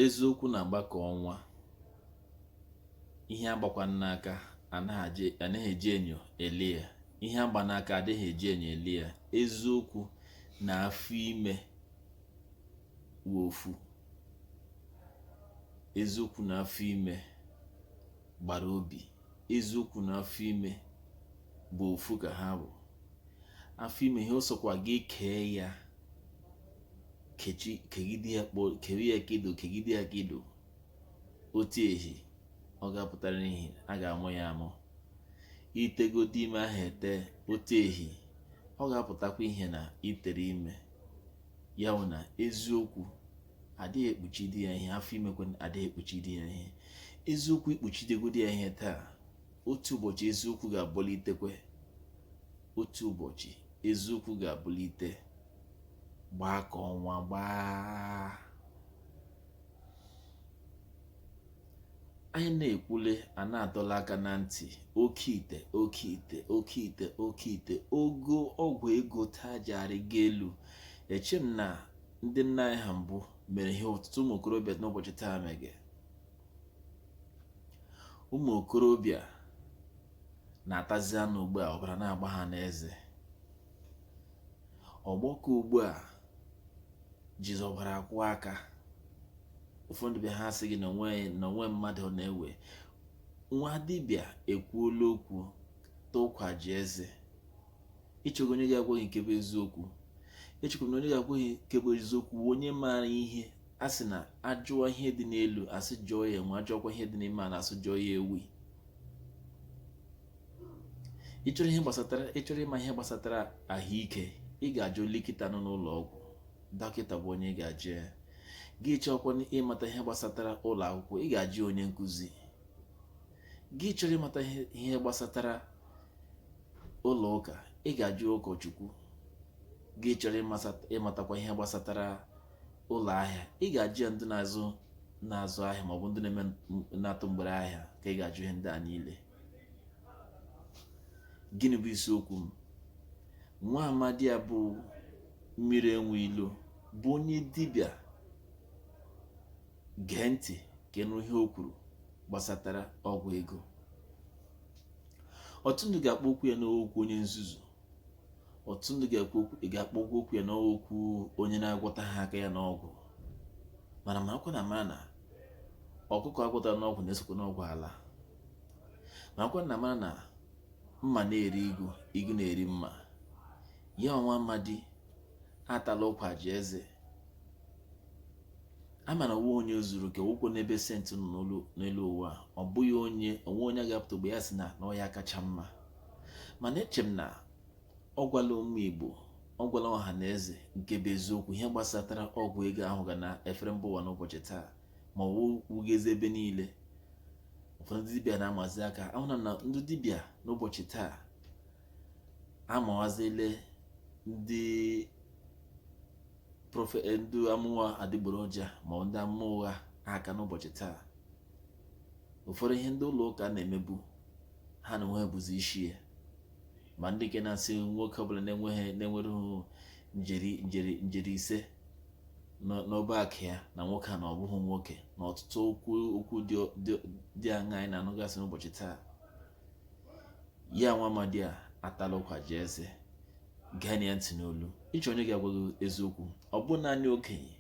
eziokwu na-agba ka ọnwa ihe agbakwa n'aka anaghị eji enyo ele ya ihe agba n'aka adịghị eji enyo ele ya eziokwu na afọ ime wụ ofu eziokwu na afọ ime gbara obi eziokwu na afọ ime bụ ofu ka ha bụ afọ ime ihe ọ sọkwa gị kee ya kechi kegide ya kpọ kere ya kedo kegide ya kedo otu ehi ọ ga-apụtara ihe a ga-amụ ya amụ itegodi ime ahụ ete otu ehi ọ ga-apụtakwa ihe na itere ime ya wụ na eziokwu adịghị ekpuchidi ya ihe afọ imekwa adịghị ekpuchidi ya ihe eziokwu ikpuchidegodi ya ihe taa otu ụbọchị eziokwu ga-abụlitekwe otu ụbọchị eziokwu ga-abụlite gbaa ka ọnwa gbaa anyị na-ekwule a na-adọla aka na ntị oke ite oke ite oke ite oke ite ogo ọgwụ ego taa ji arịgo elu eche m na ndị nna anyị ha mbụ mere ihe ọtụtụ ụmụ okorobịa n'ụbọchị taa mege ụmụ okorobịa na-atazi anụ ugbu a ọbara na-agba ha n'eze ọgbọ ke ugbu a jizi ọbara akwọ aka ụfọdụ be ha sị gị na onwe mmadụ na-ewe nwa dibịa ekwuola okwu taa ụkwa jaa eze ịchọga onye ga-agwa gị nke bụ eziokwu echekwa na onye ga-agwa gị nke bụ eziokwu wụ onye maara ihe a sị na ajụọ ihe dị n'elu asị jụọ ya enwe ajụọkwa ihe dị n'ime ala asị jụọ ya ewi ịchọrọ ihe gbasatara ịchọrọ ịma ihe gbasatara ahụike ị ga-ajụ likita nọ n'ụlọ ọgwụ dọkịta bụ onye ị ga-ajụ ya gị chọọkwa ịmata ihe gbasatara ụlọ akwụkwọ ị ga-ajụ onye nkụzi gị chọrọ ịmata ihe gbasatara ụlọ ụka ị ga-ajụ ụkọchukwu gị chọrọ ịmatakwa ihe gbasatara ụlọ ahịa ị ga-ajụ ya ndị na-azụ na-azụ ahịa maọbụ ndị na-eme na-atụ mgbere ahịa ka ị ga-ajụ ihe ndị a niile gịnị bụ isiokwu m nwa amadi a bụ mmiri enwe ilo bụ onye dibịa gee ntị ka ịnụ ihe o kwuru gbasatara ọgwụ ego ọtụtụ ndị ga-akpọ okwu ya n'okwu onye nzuzu ọtụtụ ndị ga-ekwu okwu ị ga-akpọ okwu okwu ya n'okwu onye na-agwọtaha aka ya n'ọgwụ mana marakwa na mara na ọkụkọ agwọtara n'ọgwụ na-esokwa n'ọgwụ ala ma kwa na mara na mma na-eri igu igu na-eri mma ya nwa amadi atala ụkwa ji eze ama na o nwe onye zuru oke ụkwụ n'ebe saint nọ n'elu ụwa a ọ bụghị onye o nwe onye ga-apụta ogbe ya sị na na ọ ya kacha mma mana eche m na ọ gwala ụmụ Igbo ọ gwala ọha na eze nke bụ eziokwu ihe gbasatara ọgwụ ego ahụ ga na-efere mba ụwa n'ụbọchị taa ma ọ wugazi ebe niile ụfọdụ ndị dibịa na-amazi aka ahụna m na ndị dibịa n'ụbọchị taa amawazile ndị profe eh, ndị amụma adịgboroja ma ndị amụma ụgha aka n'ụbọchị taa ụfọdụ ihe ndị ụlọ ụka na-emebu ha na onwe bụzi isi ya ma ndị nke na-asị nwoke ọbụla na-enweghị na-enwereghị njeri njeri njeri ise n'ọba akụ ya na nwoke a na ọ bụghị nwoke na ọtụtụ okwu okwu dị aṅaa anyị na-anụgasị n'ụbọchị taa ya nwa amadi a atala ụkwa ji eze geenụ ya ntị n'olu ị chọọ onye ga-agwa gị eziokwu ọ bụ naanị okenye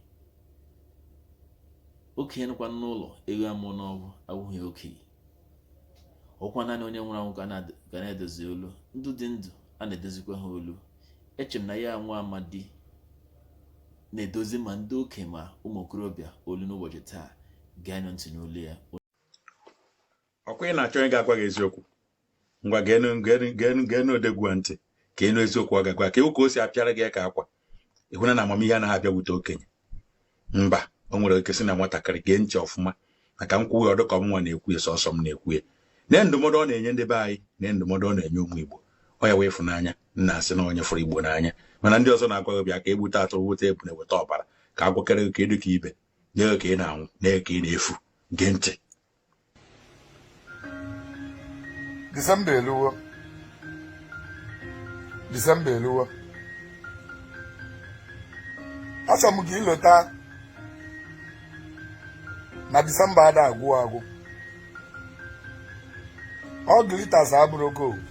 okenye nọkwa n'ụlọ ewu amụọ n'ọgbụ awụghị okenye ọkwa naanị onye nwụrụ anwụ ka a na-edozi olu ndị dị ndụ a na-edozikwa ha olu eche m na ya nwa amadi na-edozi ma ndị okenye ma ụmụ okorobịa olu n'ụbọchị taa geenụ ntị n'olu ya ọkwa ị na-achọ onye ga-agwa gị eziokwu ngwa geenụ geenụ geenụ geenụ odogwu a ntị ka ị nụ eziokwu ọ ga-agwa ka ị hụ ka o si apịara gị ka akwa ị hụna na amamihe anaghị abịakwute okenye mba o nwere ike si na nwatakịrị gee ntị ọfụma maka m kwuwe ọ dị ka ọ mụnwa na-ekwu ya sọsọ m na-ekwu ya nee ndụmọdụ ọ na-enye ndị be anyị nee ndụmọdụ ọ na-enye ụmụ igbo ọ ya wụ ịfụnanya m na-asị na onye fụrụ igbo n'anya mana ndị ọzọ na-agwa gị bịa ka e gbute atụrụ weta ebule weta ọbara ka a gwakọrọ gị ka ị dị ka ibe nye gị ka ị na-anwụ nee ka ị na-efu gee ntị Disemba eluwo Disemba eluwo achọrọ m ka i lota na Disemba ada agwụ agwụ all glitters abụrọ gold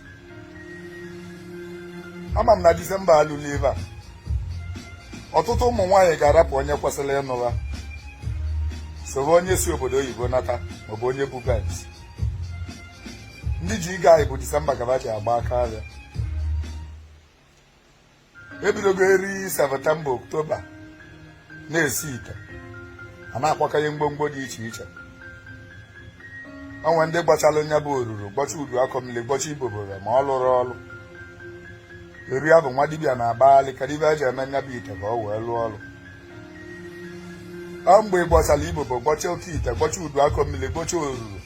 ama m na disemba alụla ebe a ọtụtụ ụmụ nwaanyị ga-arapụ onye kwesịrị ịnụ ha soro onye si obodo oyibo nata maọbụ onye bu benz ndị ji ịga anyị bụ disemba gaba ji agba aka ahịa ebidogo eri septemba oktoba na-esi ite a na-akwakọnye mgbomgbo dị iche iche o nwe ndị gbachalụ nya bụ oruru gbọcha udu akọ mmiri gbọcha ibobore ma ọ lụrọ ọrụ eri abụ nwa dibịa na-agbaghalị ka dibịa ji eme nya bụ ite ka ọ wee lụọ ọrụ ọ mgbe ị gbọsara ibobo gbọcha oke ite gbọcha udu akọ mmili gbọcha oruru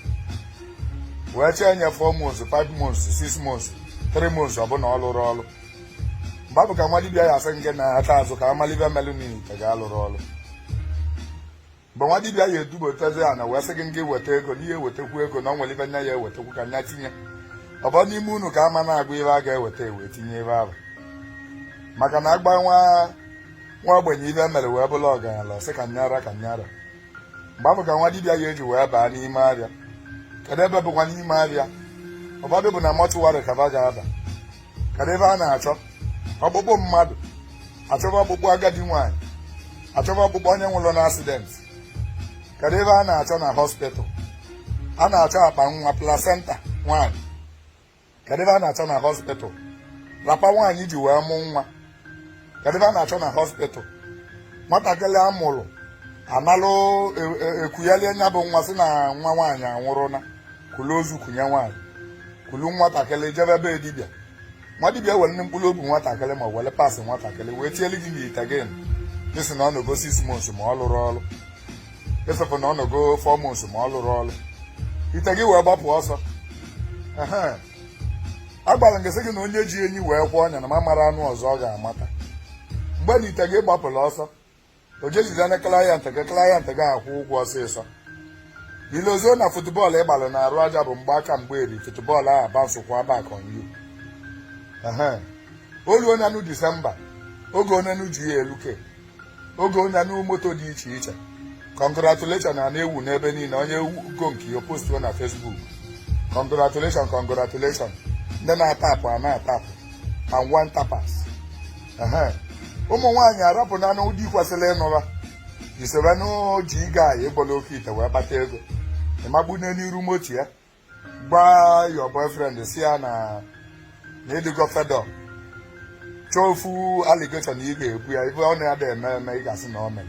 wee chee nye 4 months 5 months 6 months 3 months ọ bụ na ọ lụrọ ọrụ mgbe abụ ka nwa dibịa ya asị ngị nata azụ ka a malị ive melụnụ ite gị alụrọ ọrụ mgbe nwa dibịa ya edubatazi ya na wee sị gị ngị weta ego ngị wetakwu ego na ọ nwere ive nya ya ewetakwu ka nya tinye ọ bụ n'ime unu ka ama na-agụ ive a ga-eweta e wee tinye ebe ahụ maka na a gwa nwa ogbenye ive e mere wee bụlụ ọgaranya ọ sị ka nya ra ka nya ra mgbe abụ ka nwa dibịa ya eji wee baa n'ime abịa kedu ebe bụkwa n'ime abịa ụfọdụ bụ na mortuary ka ba ga-aba kedu ive a na-achọ ọkpụkpụ mmadụ a chọba ọkpụkpụ agadi nwaanyị a chọba ọkpụkpụ onye nwụrụ na accident kedu ive a na-achọ na hospital a na-achọ akpa nwa placenta nwaanyị kedu ive a na-achọ na hospital wrapper nwaanyị ji wee mụ nwa kedụ ive a na-achọ na hospital nwatakịrị a mụrụ a nalụ e, e, e kughalie nya bụ nwa sị na nwa nwaanyị anwụrụ na kulu ozu kunye nwaanyị kulu nwatakịrị jebe be dibịa nwa dibịa werenụ mkpụrụ obi nwatakịrị ma were parts nwatakịrị wee tielu gị n'ite gị ị sị na ọ nọgo six months ma ọ lụrọ ọrụ ịsịpụ na ọ nọgo four months ma ọ lụrọ ọrụ ite gị wee gbapụ ọsọ agwara m gị sị gị na onye ji enyi wee kwee ọnya na m amarọ anụ ọzọ ọ ga-amata mgbe na ite gị gbapụrụ ọsọ o jejide na client gị client gị akwụọ ụgwọ ọsịsọ i lozoo na football ị gbalụ n'arụ aja bụ mgbe aka mgbe eri football ahụ bouncekwa back on you o luo ọ na-anụ December oge ọ na-anụ GLK oge ọ na-anụ moto dị iche iche congratulation ana-ewu n'ebe niile onye gọ nke ya ọ postuo na Facebook congratulation congratulation ndị na-atapụ ana-atapụ and untappers ụmụ nwaanyị arapụ na-anụ di kwesịrị ịnụ ha je sobe nwa G guy gbọlụ oke ite wee kpata ego ị mabanye n'iru moto ya gwa your boyfriend sị ya na ị dịgo fed up chọọ ofu allegation na ị ga-ebo ya ife ọ na-ada eme eme ị ga-asị na ọ mere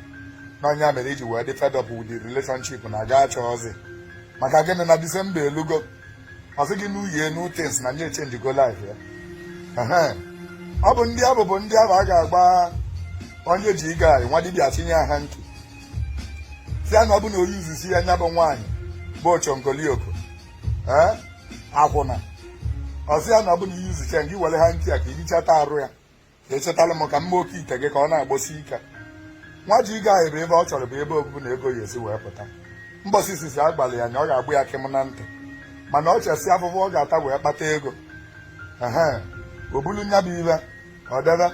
na ọ nya mere iji wee dị fed up with the relationship na gị achọrọzi maka gịnị na December elugo ọ sị gị new year new things na nya changego life ya ọ bụ ndị abụ bụ ndị ahụ a ga-agwa onye G guy nwa dibịa chịnye ya hanky sị ya na ọ bụ na o yuzisie ya nya bụ nwaanyị bụ ochongolioko ee akwụna ọ sị ya na ọ bụ na i yuzichaa gị were hanky a ka ị hichata arụ ya ị chịtalị m ka m ma oke ite gị ka ọ na-agbọsi ike nwa G guy ahụ ive ọ chọrọ bụ ebe obubu na ego ya esi wee pụta mbọsị izizi a gwalị ya na ọ ga-agbọ ya kịm na ntị mana ọ chesị afụfụ ọ ga-ata wee kpata ego ehe o bulu nya bụ ive ọ debe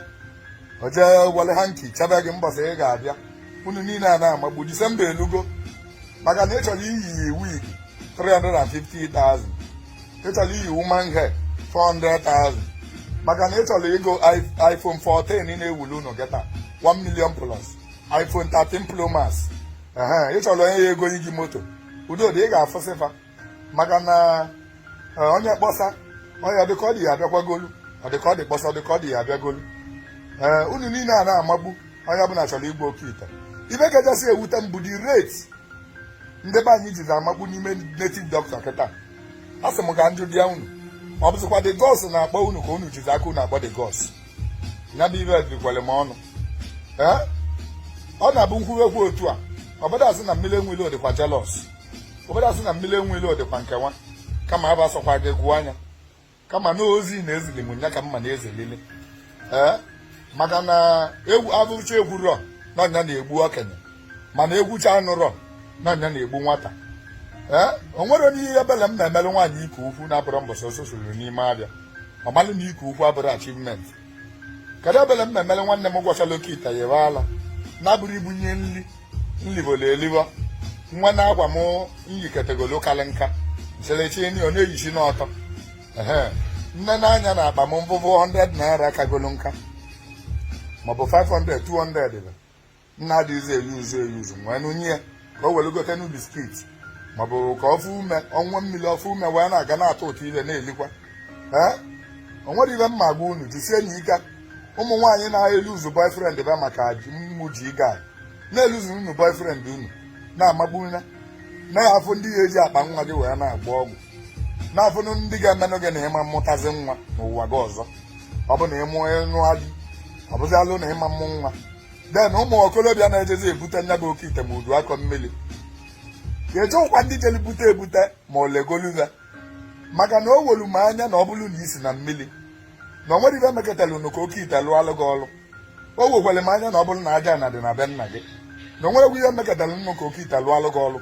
ọ jee were hanky chebe gị mbọsị ị ga-abịa unu niile a na-amagbu disemba elugo maka na ị chọrọ iyi wig 350,000 ị chọrọ iyi human hair 400,000 maka na ị chọrọ ịgo iphone 14 ị na-ewuli unu kịta 1 million plus iphone 13 pro max ehe ị chọrọ onye ya-egolu gị moto udodị ị ga-afụsị fa maka na e, onye kpọsa onye dịka ọ dị ya abịakwagolu ọ dịka ọ dị kpọsa dịka ọ dị ya abịagolu ee unu niile a na-amagbu onye ọbụla chọrọ igbu oke ite ihe kachasị ewute m bụ the rate ndị be anyị jizi amagbu n'ime native doctor kịta a sị m ka m jụọdị unu ọ bụzikwa the gods na-akpọ unu ka unu jizi aka unu akpọ the gods ya bụ ife dịkwere m ọnụ ee ọ na-abụ m kwuwe okwu otu a ọbụda asị na mmiri enwele dịkwa jealous obodo asị na mmiri enwele dịkwa nkewa kama abụ asọkwa gị gụọ anya kama na ozi na ezili m nya ka mma na ezelili ee maka na ekwu afụcha ekwurọ na ọ nya na-egbu okenye mana ekwucha anụrọ na ọ nya na-egbu nwata ee o nwere onye ihe ebele m na-emere nwaanyị ike ukwu na-abụrụ mbọsị ọsọ suru n'ime afịa ọ malụ na ike ukwu abụrọ achievement kedu ebele m memere nwanne m gwọchara oke ite yibe ala na-abụrụ i bunye nri nli o bulu eliwe nwa na akwa m yikatagolu karị nka sere chịnye ya ọ na-eyisi n'ọtọ ehe m nene anya na akpa m m fụ 100 naira kagolu nka maọbụ 500 200 bụ na adịghịzi eyuzu eyuzu wee nye ya ka o were gote nu biskit maọbụ ka ọ fụ ume ọṅụa mmiri ọ fụ ume wee na-aga na-atụtụ ife na-elikwa ee o nwere ife m ma-agwa unu jisie nụ ike ụmụ nwaanyị na-eluzu boyfriend fa maka mmụ ji ịga na-eluzu unu boyfriend unu na-amagbu na ị ya-afụ ndị ya-eji akpa nwa gị wee na-agba ọgwụ na-afụ ndị ga-emenụ gị na ị ma amụtazi nwa n'ụwa gị ọzọ ọ bụ na ịmụ nụa gị ọ bụzi alụ na ị ma amụ nwa den ụmụ okorobịa na-ejezi ebute nya bụ oke ite ma udu akọ mmiri ga-eje jụkwa ndị jeli bute ebute ma o legolu fa maka na o wolu m anya na ọ bụrụ na i si na mmiri na o nwerọ ife meketara nụ ka oke ite lụọlụ gị ọrụ o wekwere m anya na ọ bụrụ na ajana dị na be nna gị na o nwerọkwa ihe meketara nụ ka oke ite lụọlụ gị ọrụ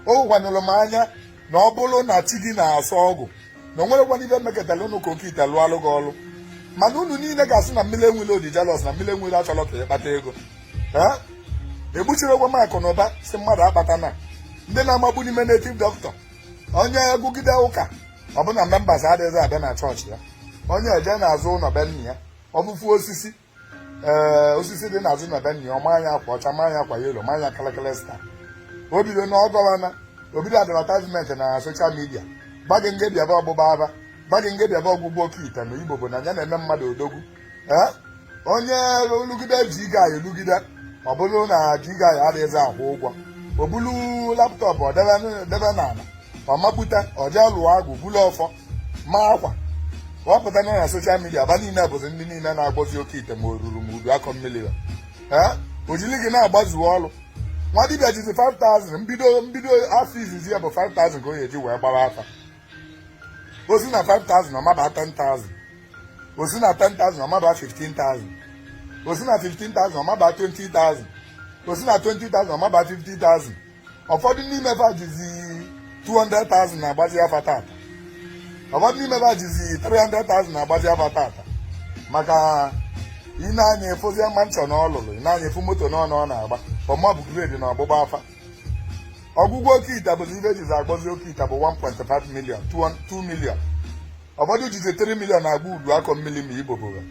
o wekwanyụrụ m anya na ọ bụrụ na chi gị na-asọ ọgwụ na o nwerọkwanụ ife meketara nụ ka oke ite lụọlụ gị ọrụ mana unu niile ga-asị na mmiri enwere dị jealous na mmiri enwere achọrọ ka ị kpata ego egbuchirikwa m akụ na ụba si mmadụ akpata na ndị a na-amagbu n'ime native doctor onye gụgide ụka ọ fụ na members adịghịzi abịa na chọọchị ya onye eje n'azụ ụlọ be nna ya ọ fụ ofu osisi ee osisi dị n'azụ na be nna ya ọ manye akwa ọcha manye akwa yellow manye kalakala sta o bido na ọ gọwana o bido advertisement na social media gwa gị ngị bịaba ọgbụgba afa gwa gị ngị bịaba ọgwụgwọ oke ite na ibobo na ya na-eme mmadụ odogwu ee onye lụgide ji ga ya elugide ọ bụrụ na ji ga ya adịghịzi akwụ ụgwọ o bulu laptop ọ debe debe n'ala ọ mapụta ọ jee lụọ agwụ bulu ọfọ ma akwa ọ pụta na na social media fa niile bụzi ndị niile na-agwọzi oke ite ma oruru ma udu akọ mmiri ha o jiri gị na-agbazuo ọrụ nwa dibịa jizi 5000 mbido mbido afọ izizi ya bụ 5000 ka o ji wee gba afa o si na 5000 ọ maba 10000 o si na 10000 ọ maba 15000 o si na 15000 ọ maba 20000 o si na 20000 ọ maba 50000 ụfọdụ n'ime fa jizi 200,000 na-agbazi afa tata ụfọdụ n'ime fa jizi 300,000 na-agbazi afa tata maka ị nee anya ị fụzie mansion na ọ lụrụ ị nee anya ị fụ moto na ọ na ọ na-agba ọma bụ grade na ọgbụgba afa ọgwụgwọ oke ite bụzi ibe e jizi agwọzi oke ite bụ 1.5 million 2 million ụfọdụ jizi 3 million na-agwọ udu akọ mmiri ma ibobo ga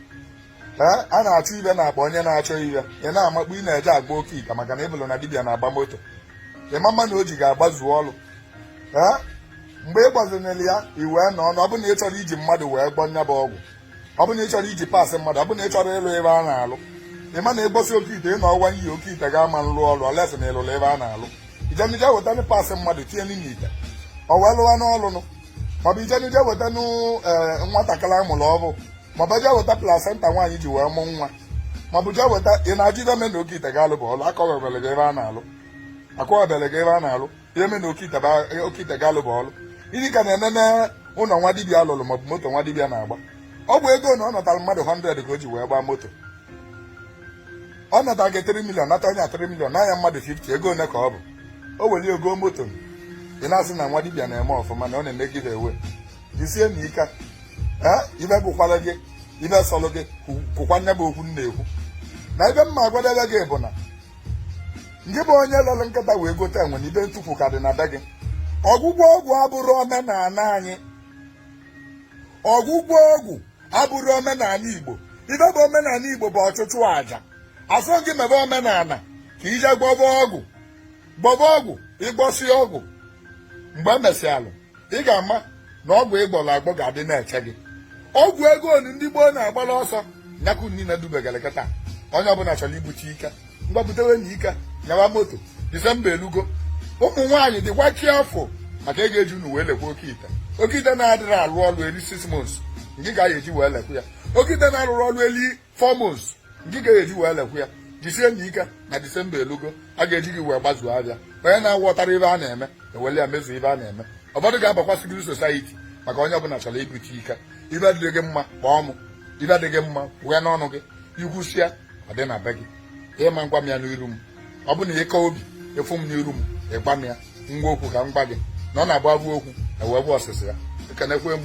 ee a na-achọ ibe na-akpa onye na-achọ ibe ị na-amakpu ị na-eje agwọ oke ite maka na ị fụlụ na dibịa na-agba moto ịma mma na o ji gị agbazu ọrụ ee mgbe ị gbazinere ya i wee nọ ọnụ ọ bụ na ị chọrọ iji mmadụ wee gwọ nya bụ ọgwụ ọ bụ na ị chọrọ iji parts mmadụ ọ bụ na ị chọrọ ịlụ ebe a na-alụ ị ma na ị gwọsị oke ite ị na ọwa iyi oke ite ga-ama nlụ ọrụ unless na ị lụrụ ebe a na-alụ ijenije wetana parts mmadụ tinye n'ime ite ọ wee lụwa n'ọlụnụ maọbụ ijenije wetana nwatakịrị a mụrụ ọfụụ maọbụ jee weta placenta nwaanyị ji wee mụ nwa maọbụ jee weta ị na-ajụ ibe me na oke ite ga-alụ bụ ọlụ akọwebele gị ebe a na-alụ akọwebele gị ebe a na-alụ ihe me na oke ite ga-alụ bụ ọlụ ngị ka na-enene ụlọ nwa dibịa lụrụ maọbụ moto nwa dibịa na-agba ọ bụ ego na ọ natara mmadụ 100 ka o ji wee gbaa moto ọ natara gị 3 million nata onye 3 million naa nya mmadụ 50 ego ole ka ọ bụ o weli ọ goo moto ị na-asị na nwa dibịa na-eme ọfụma na ọ na-emegide ewe jisie na ike ee ibe gụkwara gị ibe sọrọ gị kwukwa nya bụ okwu m na-ekwu na ibe m ma agwadebe gị bụ na ngị bụ onye lere nkịta wee gote enwe na ibe ntukwu ka dị na be gị ọgwụgwọ ọgwụ abụrọ omenala anyị ọgwụgwọ ọgwụ abụrọ omenala igbo ibe bụ omenala igbo bụ ọchụchụ aja a sị gị mebe omenala ka i je gwọba ọgwụ gwọba ọgwụ ị gwọsị ọgwụ mgbe e mesịalụ ị ga-ama na ọgwụ ị gwọrọ agwọ ga-adị na-eche gị ọgwụ ego onu ndị gboo na-agbara ọsọ nya ka unu niile dubegara kịta onye ọbụla chọrọ ibute ike ngwa butewe na ike nyawa moto December elugo ụmụ nwaanyị dịkwa careful maka a ga-eji unu wee lekwa oke ite oke ite na-adịrọ alụ ọlụ eri six months ngị ka a ga-eji wee lekwa ya oke ite na-alụrọ ọlụ eli four months nke ga-eji wee lekwa ya jisie na ike na disemba elugo a ga-eji gị wee gbazuo abịa onye na-aghọtara ibe a na-eme ewele ya mezuo ibe a na-eme ụfọdụ ga-abakwa secret society maka onye ọbụla chọrọ ibute ike ibe adịghị gị mma kpọọ m ibe adịghị mma wee n'ọnụ gị ikwusia ọ dị na be gị ị ma agwa m ya n'iru m ọ bụ na ị ka obi ịfụ m n'iru m ịgwa m ya ngwa okwu ka m gwa gị na ọ na-agba okwu ewee bụ ọsịsị ya ekenekwe m